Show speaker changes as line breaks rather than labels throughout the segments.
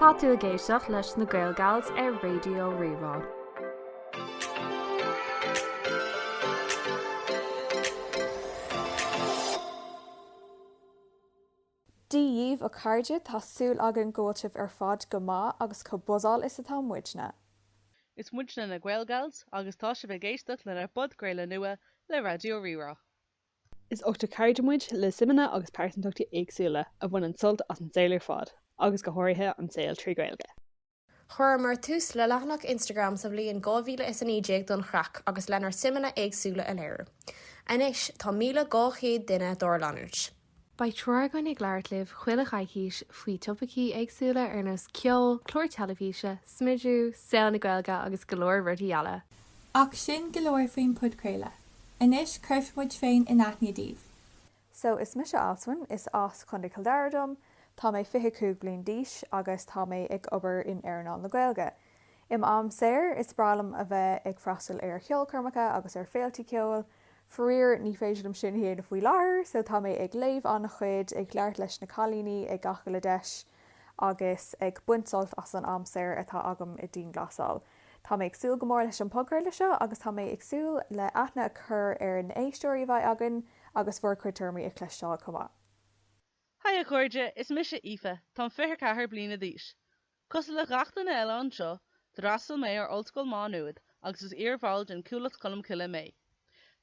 Tá tú ag éisteacht leis na GaelGals ar Radio Rí-Rá.
Dia daoibh a chairde, tá súil againn go bhfuil sibh ar fad go maith agus chomh buzzáilte is atá muidne. Is
muidne na GaelGals agus tá sibh ag éisteacht lenár bpodchraoladh nua le Radio Rí-Rá.
Is ochtar cairde muid, le suimeanna agus pearsantachtaí éagsúla, a bhaineann sult as an saol ar fad, agus go háirithe an saol trí Ghaeilge. Chuireamar
tús le leathanach Instagram sa bhliain 2019 don chraic agus lenár suimeanna éagsúla a léiriú. Anois, tá 1,200 duine dár leanúint. Beidh
triúr againn ag labhairt libh chuile choicís faoi thopaicí éagsúla ar nós ceol, clár teilifíse, smidiú, saol na Gaeilge agus go leor rudaí eile! Ach
sin go leor faoin podchraoladh. Anois cuirfidh muid muid féin in aithne daoibh. So,
is mise Alswyn, is as Contae Chill Dara dom, tá mé 25 bliain d'aois agus tá mé ag obair in earnáil na Gaeilge. I m'am saor, is breá liom a bheith ag freastal ar cheolchoirmeacha agus ar féiltí ceoil. Faraor, ní féidir liom sin a dhéanamh faoi láthair, so tá mé ag léamh an-chuid, ag labhairt leis na cailíní ag gach uile deis, agus ag baint sult as an am saor atá agam i dianghlasáil. Tá mé ag súil go mór leis an podchraoladh seo agus tá mé ag súil le aithne a chur ar na éisteoirí a bheidh againn agus bhur cuid tuairimí a chloisteáil chomh maith. Haigh
a chairde, is mise Aoife, táim 24 bliana d'aois. Cosúil le gach duine eile anseo, d'fhreastal mé ar Ollscoil Má Nuad agus is iar-bhall den Chuallacht Cholmcille mé.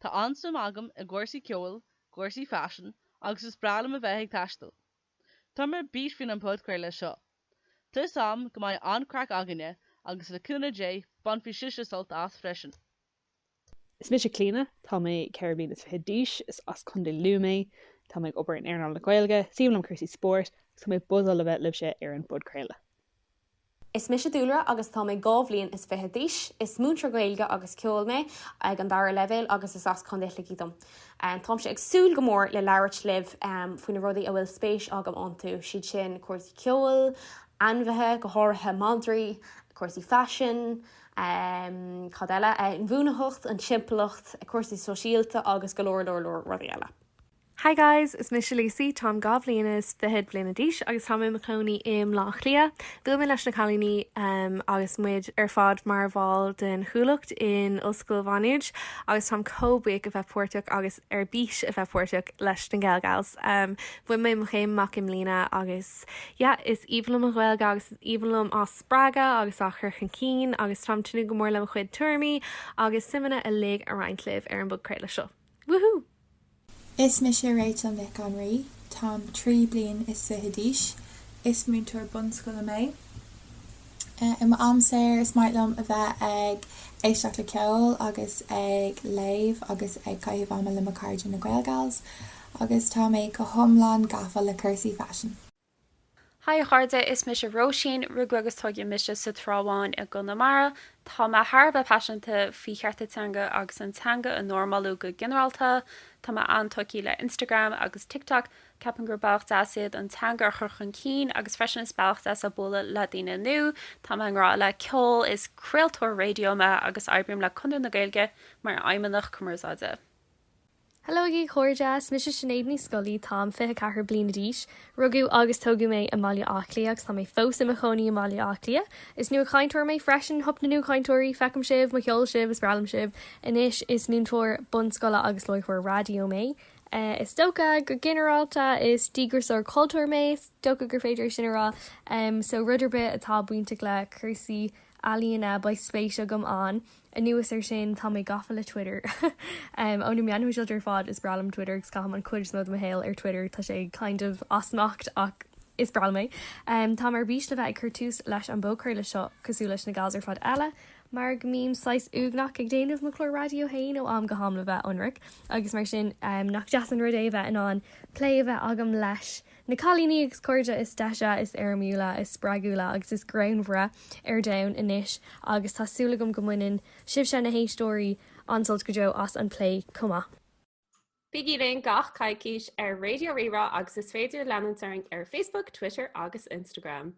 Tá an-suim agam i gcúrsaí ceoil, gcúrsaí faisean agus is breá liom a bheith ag taisteal. Tá mé ar bís faoin an podchraoladh seo. Tá súil agam go mbeidh an-craic againne agus le cúnamh Dé bainfidh sibhse sult as freisin.
Is mise Clíona. Tá mé ceithre bliana is fiche d'aois. Is as Contae Lú mé. Tá mé ag obair in earnáil na Gaeilge. Is aoibhinn liom cúrsaí spóirt agus tá mé buzzáilte a bheith libhse ar an bpodchraoladh.
Is mise Dúlra agus tá mé dhá bhliain is fiche d'aois. Is múinteoir Gaeilge agus Ceoil mé ag an dara leibhéal agus is as Contae Shligigh dom. Táimse ag súil go mór le labhairt libh faoi na rudaí a bhfuil spéis agam iontu, is iad sin cúrsaí ceoil, ainmhithe, go háirithe madraí, cúrsaí faisin, cad eile, inbhuanaitheacht, an timpeallacht, cúrsaí sóisialta agus go leor leor leor rudaí eile. Hi
guys, is mise Lucy, táim dhá bhliain is fichead bliana d'aois agus táim i mo chónaí i mBaile Átha Cliath. Bhuail mé leis na cailíní agus muid ar fad mar bhall den Chuallacht in Ollscoil Mhá Nuad agus táim chomh buíoch a bheith páirteach agus ar bís a bheith páirteach leis na GaelGals. Bhain mé mo chéim amach i mbliana agus yeah, is aoibhinn liom an Ghaeilge agus is aoibhinn liom í a spreagadh agus a chur chun cinn agus táim ag tnúth go mór le mo chuid tuairimí agus suimeanna uilig a roinnt libh ar an bpodchraoladh seo. Woohoo! Is
mise Rachel Nic an Rí. Táim trí bliain is fiche d'aois. Is múinteoir bunscoile mé. I m'am saor is maith liom a bheith ag éisteacht le ceol agus ag léamh agus ag caitheamh ama le mo cairde na GaelGals. Agus tá mé go hiomlán gafa le cúrsaí faisin. Hi
a chairde, is mise Róisín. Rugadh agus tógadh mise sa Trá Bháin i gConamara. Tá mé thar a bheith paiseanta faoi chearta teanga agus an teanga a normálú go ginearálta. Tá mé an-tógtha le Instagram agus TikTok. Ceapaim gur bealach deas iad an teanga a chur chun cinn agus freisin is bealach deas le bualadh le daoine nua. Tá mé i ngrá le ceol, is craoltóir raidió mé agus oibrím le Conradh na Gaeilge mar fheidhmeannach cumarsáide.
Hello a chairde, is mise Sinéad Ní Scolaí, táim 24 bliana d'aois. Rugadh agus tógadh mé i mBaile Átha Cliath agus tá mé fós i mo chónaí i mBaile Átha Cliath. Is nuachainteoir mé freisin, hup na nuachainteoirí, feicim sibh, mo cheol sibh, is breá liom sibh. Anois is múinteoir bunscoile agus láithreoir raidió mé. Is dócha go ginearálta is díograiseoir cultúir mé, is dócha gur féidir é sin a rá. So rud ar bith atá bainteach le cúrsaí ealaíona beidh spéis agam ann. Anuas ar sin, tá mé gafa le Twitter. Ó na meáin shóisialta ar fad, is breá liom Twitter agus caithim an chuid is mó de mo shaol ar Twitter, tá sé kind of as smacht ach is breá liom é. Táim ar bís le bheith ag cur tús leis an bpodchraoladh seo cosúil leis na gals ar fad eile mar go mbím saghas uaigneach ag déanamh mo chlár raidió féin ó am go ham le bheith ionraic agus mar sin nach deas an rud é a bheith in ann plé a bheith agam leis Na cailíní agus cairde, is deise, is éirimiúla, is spreagúla agus is greannmhaire ar domhan anois agus tá súil agam go mbaineann sibhse, na héisteoirí, an-sult go deo as an bplé chomh maith.
Bígí linn gach coicís ar Raidió Rí-Rá agus is féidir leanúint orainn ar Facebook, Twitter agus Instagram.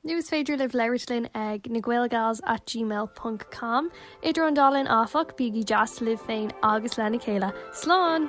Nó is
féidir libh labhairt linn ag na Gaelgals at gmail ponc com. Idir an dá linn, áfach, bígí deas libh féin agus lena chéile. Slán!